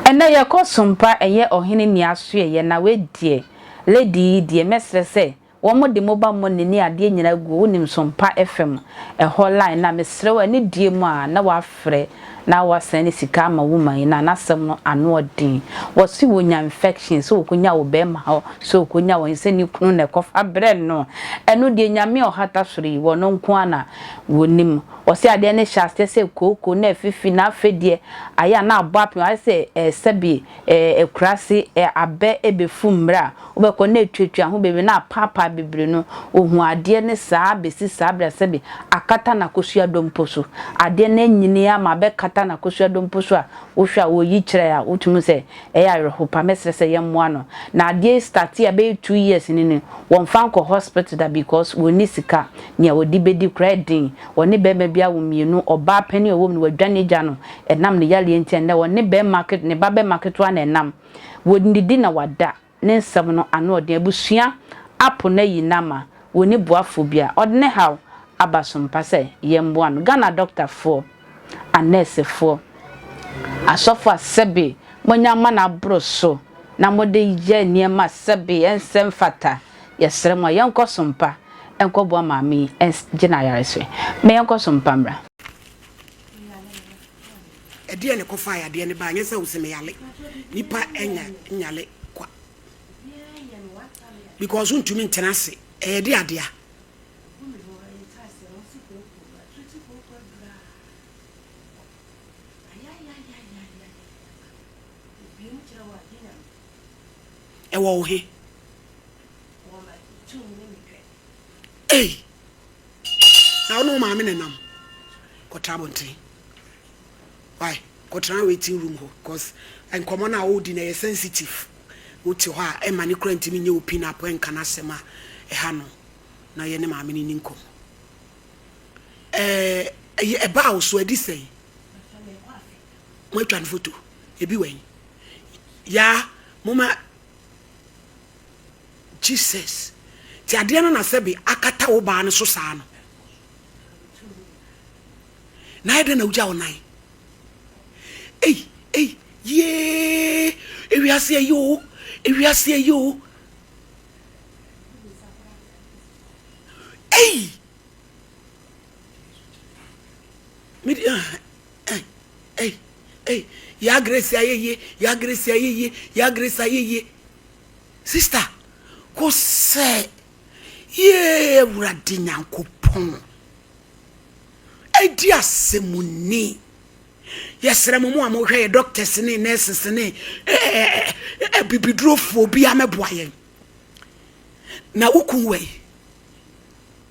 Ɛnɛ yɛkɔ sompa ɛyɛ ɔhene ni asoɛyɛ na wei deɛ lady yi deɛ mɛsrɛ sɛ Wɔde moba mone ne adeɛ nyinaa guo wonim sompa fm ɛhɔ line na mesrɛ wo anidie mu a na wafrɛ na wasan ne sika ama woman yi na nasɛm no anoɔden wɔse wonya infection sɛ okonya wo bɛɛma hɔ sɛ okonya wɔn sɛ ne kunu na ɛkɔfa brɛ no ɛno deɛ nyame a ɔhata soro yi wɔno nko ara na wɔnim wɔse adeɛ no hyɛ aseɛ sɛ kooko na afifi na afei deɛ ayɛ a na abɔ apem ayɛ sɛ sɛbi akurase abɛ ɛbɛfu mmerɛ a Wobɛkɔ na atwatwa ho bebree na apaapaa bebree no, ohuu adeɛ no saa bɛsi saa berɛ a sɛbe akata n'akosua dompo so. Adeɛ no anyini ama abɛkata n'akosua dompo so a wohwɛ a ɔreyi kyerɛ a wotumi hu sɛ ɛyɛ awerɛhow paa. Mɛsrɛ sɛ yɛmmoa no. Na adeɛ yi startee a ɛbɛyɛ two years ni no, wɔmfa nkɔ hospital da because wɔnni sika. Nea wɔde bɛdi koraa yɛ den. Wɔne barima bi awo mmienu. Ɔbaa panin a ɔwɔ mu no, wadwane agya no ɛnam ne yareɛ nti. Ɛnnɛ ɔne barima, ne babarima ketewa na ɛnam. Wɔdidi na wɔada, ne nsɛm no ano ɔden abusua apo no ayi no ama wɔnni boafoɔ biara. Ɔde ne haw aba so mpa sɛ yɛmmoa no. Ghana adɔktafoɔ, anɛɛsefoɔ, asɔfoɔ a sɛbe moanya amane aboro so na mode yɛ nneɛma a sɛbe ɛnsɛ mfata, yɛsrɛ mo a yɛnkɔ so mpa nkɔboa maame yi ngye n'ayarɛsoɛ. Mma yɛnkɔ so mpa mmra. Ɛdeɛn na ɛkɔfaa yadeɛ no baa? Nyɛ sɛ wose meyale. Nipa nya nyale kwa because wontumi ntena ase. Ɛyɛ de adea. Ɛwɔ wo he? Ei! Na wo ne wo maame na nam kɔtra abɔnten. why kɔtena waiting room hɔ cos nkɔmmɔ no a woredi no ɛyɛ sensitive wote hɔ a ɛmma no koraa ntumi nyɛ open up ɛnka n'asɛm a ɛha no na ɔyɛ ne maame no nni nkɔmmɔ ɛɛ ɛbaa wo so adi sɛn moatwa no foto ebi wɔ yi yaa moma Jesus ti adeɛ no na sɛbe akata wo baa no so saa no Na ayɛ dɛn na wogyaa wo nan? Ei, ei, yiee! Ewiase ayi o! Ewiase ayi o! Ei! Me di ah, eh, ei, ei, ya Grace ayɛ yie, ya Grace ayɛ yie, ya Grace ayɛ yie. Sista, kò sɛ, yee Awurade Nyankopɔn. Edi asɛm ni. Yɛsrɛ mo mo a mohwɛ yɛ doctors ne nurses ne abibidurofoɔ bi amɛboa yɛn. Na wo kun wɔ yi,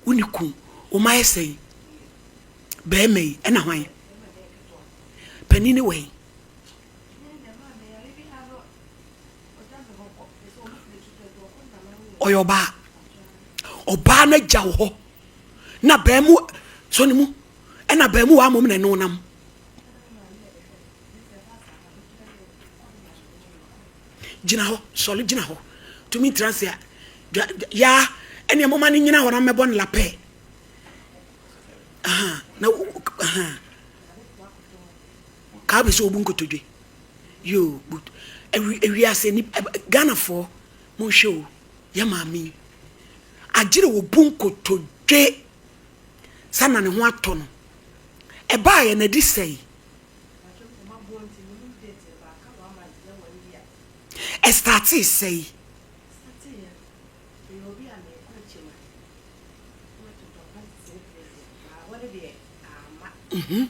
wo ne kun, wo ma yɛ sɛn, bɛrima yi ɛna hwan, panin ne wɔ yi. Ɔyɛ ɔbaa, ɔbaa no agya wɔ hɔ. na baamu so ne mu ɛna baamu wa mom na ɛno nam gyina hɔ sɔle gyina hɔ tumi ntira se a ya ɛne moma no nyina hɔ na mmɛbɔ no lapɛ na kaa bɛ sɛ obu nkotodwe yo but ewiase ni ghanafoɔ monhwɛ o Yɛ maame yi agyere wo bo nkotodwe sa na ne ho atɔ no. Ɛbaa yɛ na di sɛi. Ɛstartee sɛi. Mhm.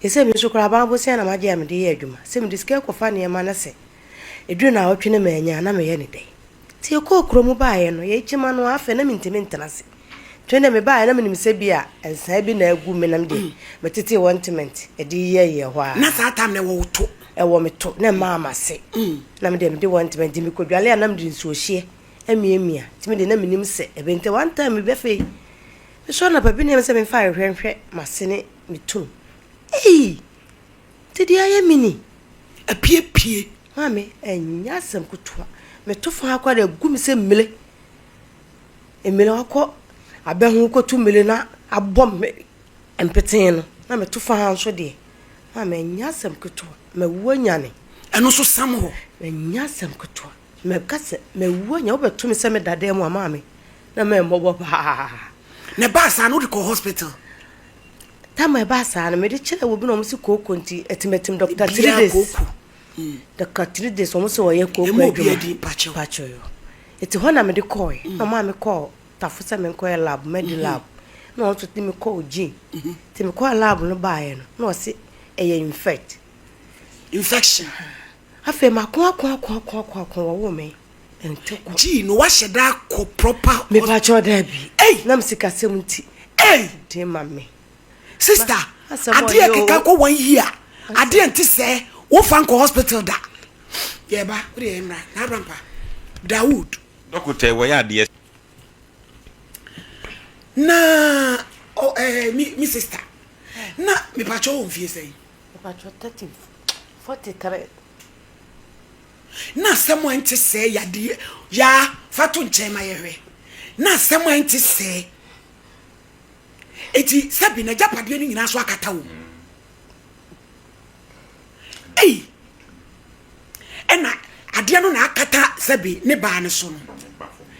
Te sɛ me nso koraa, aban bosea na magye a mede yɛ adwuma. Sɛ mede sika rekɔfa nneɛma na sɛ ɛduru nnawɔtwe na mannya a, na meyɛ no dɛn? Nti yɛkɔɔ kurom baeɛ no, yɛn kyima no ara afɛ, na mentumi ntena ase. Nti me deɛ mebaeɛ na menim sɛ ebia nsae bi na agu me na me deɛ metetee ointment de yɛyɛɛ hɔ ara. Na saa time no ɛwɔ wo to? Ɛwɔ me to, na ɛmaa m'ase. Na me deɛ mede ointment, nti mekɔdwale a na mede nsuohyeɛ amiamia. Nti me deɛ na menim sɛ ɛbɛyɛ. Nti one time bi afei, Nso anɔpa bi na ɛsɛ sɛ mefa ahwehwɛ nhwɛ m'ase ne me tum. Ei! Nti deɛ ayɛ me ni? Apiepie! Maame, ɛnyɛ asɛm ketewa. Meto fã ara koraa na ɛgu me sɛ mmire. Mmire a ɔkɔ abɛ ho kɔtu mmire na abɔ me mpetee no, na meto fã ara nso deɛ. Maame, ɛnyɛ asɛm ketewa. Mawu anyane. Ɛno nso sam hɔ. Ɛnyɛ asɛm ketewa. Mɛka sɛ, 'Mawu a, nea wobɛto me sɛ meda dan mu a, ma me, na memmɔbɔ paa. Na ɛbaa saa no, wode kɔɔ hospital? Tam a ɛbaa saa no, mede kyerɛɛ obi na wɔn se kooko nti atimatim dɔkta three days. Kooko. Mm. Dɔkta three days wɔn se wɔyɛ kooko adwuma. Ɛmu obi adi mpakyɛw. Mpakyɛw. Eti hɔ na mede kɔɔe. Mm. Na ɔmaa me kɔɔ tafo sɛ menkɔyɛ lab, medi mm-hmm. lab. Na wɔn nso de me kɔɔ gye. Mm-hmm. Ti me kɔɔ lab no baeɛ no, na ɔse ɛyɛ infect. Infection. Afei mako ako ako ako ako ako wɔwoo me ntɛkwa. Gee no wahyɛ da akɔ proper. Mepakyɛ ɔda bi. Ei. Nam sikasɛm nti. Ei. Dee ma me. Sister, adeɛ keka kɔ one year. Adeɛ nti sɛ wofa nkɔ hospital da. Yɛba, wode yɛ mmra, na abrampa. Dawood. Dɔkotɛ wɔyɛ adeɛ. Na, oh eh, me sister. Na, mepakyɛ wɔ mfie sɛn. Mpacho thirty forty three na asɛm a ɛnte sɛɛ yadeɛ yaa fa to nkyɛn ma yɛhwɛ na asɛm a ɛnte sɛɛ eti sɛbi na agyapadeɛ no nyinaa so akata wɔ mu ei ɛna adeɛ no na akata sɛbi ne baa no so no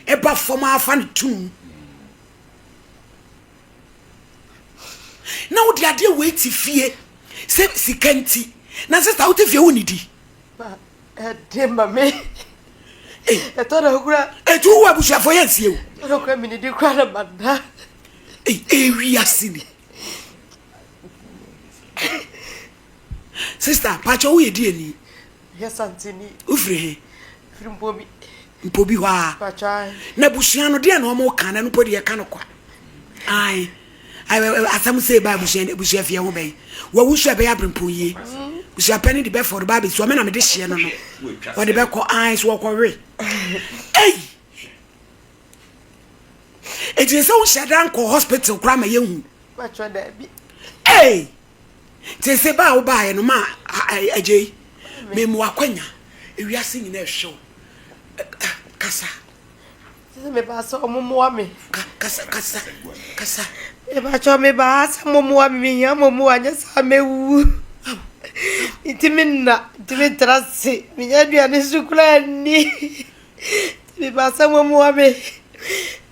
ɛba fam afa no tunu na wode adeɛ wei te fie sɛ sika nti na sista wote fie wo nidi ɛde ma me ɛtɔ na kura ɛtu wo abusuafoɔ yɛ nsie o na kura menidi kura na mada ɛwi ase ni sista pakyɛ woyɛ di ani Yɛ Santini. Wofiri he? Firi Mpobi. Mpobi hɔ a. Pakyɛ ae. Na abusua no deɛ na wɔn ka na ɛno mpo deɛ ka no kwa. Ae. Asɛm sei ba abusua abusua fie ho bɛyi. Wawu so ɛbɛyɛ abrempɔn yie. Busua pɛ ne de bɛfɔ de ba abɛsua me na mede hyeɛ no no. Wɔde bɛkɔ ae so wɔkɔ we. Ei. Ɛti sɛ wo hyɛ da nkɔ hospital koraa ma yɛhu. Pakyɛ daabi. Ei. Nti se ba a wobaeɛ no ma agyei me mmoa akwanya ewiase nyina ɛhwɛ wo kasa. Sisi me ba sɛ ɔmo moa me. Kasa kasa kasa. Mebakyɛ me ba ha sɛ mo moa me me hia mo moa nyɛ saa me wu. Nti me nna nti me tra se me nya aduane so kura ni. Mebasa mo mmoa me.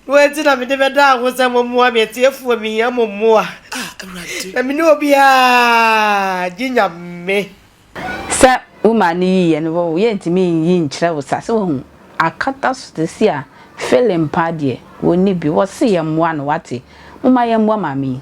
Mo nti na mede bɛda ho sɛ mo mmoa me atiefoɔ mehia mo mmoa. Na me ne obiara gye Nyame. Sɛ wo maa no yiiɛ no wo yɛ ntumi nyi nkyerɛ wo sa sɛ wahu akata so te se a fele mpaa deɛ wɔnni bi wɔse yɛmmoa no wate moma yɛmmoa maame yi.